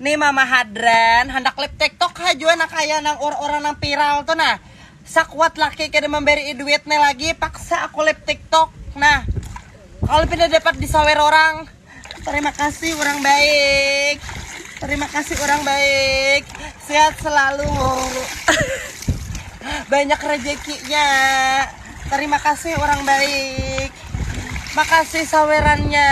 Nih mama hadran, handak live tiktok ha jua nah kaya nang ur urang nang viral tu nah. Sakuat laki kada mambarii duit ne lagi paksa aku live tiktok nah. Kalu pina dapat disawer urang. Tarima kasih urang baik. Tarima kasih urang baik. Sehat selalu. Banyak rejekinya. Tarima kasih urang baik. Makasih sawerannya.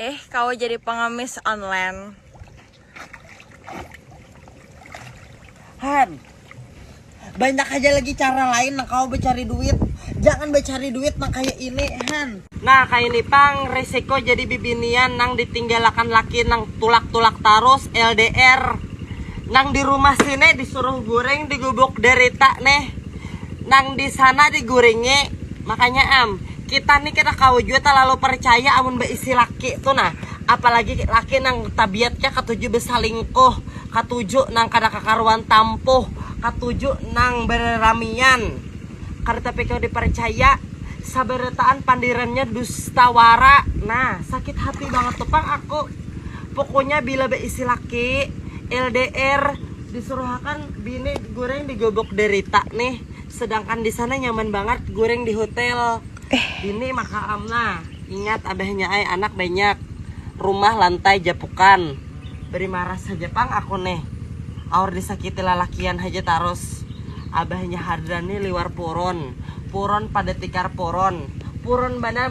Eh, kau jadi pengemis online. Han, banyak aja lagi cara lain nang kau bercari duit. Jangan bercari duit nang kayak ini, Han. Nah, kayak ini pang resiko jadi bibinian nang ditinggalakan laki nang tulak-tulak tarus LDR. Nang di rumah sini disuruh guring di gubuk derita nih. Nang di sana diguringi, makanya am, kita nih kada kawa jua talalu percaya amun baisi laki tu nah, apalagi laki nang tabiatnya katuju besalingkuh, katuju nang kada kakaruan tampuh, katuju nang bereramian, kada tapi kawa dipercaya, sabarataan pandirannya dusta wara, nah sakit hati banget tu pang aku, pukunya bila baisi laki, LDR. Disuruhakan bini guring di gubuk derita nih, sedangkan di sana nyaman banget guring di hotel. Eh. Bini maka amna, ingat abahnya ai anak banyak, rumah lantai japukan. Beri marah saja pang aku nih, aur disakiti lalakian haja tarus. Abahnya Hardani liwar puron, puron pada tikar puron, puron banar.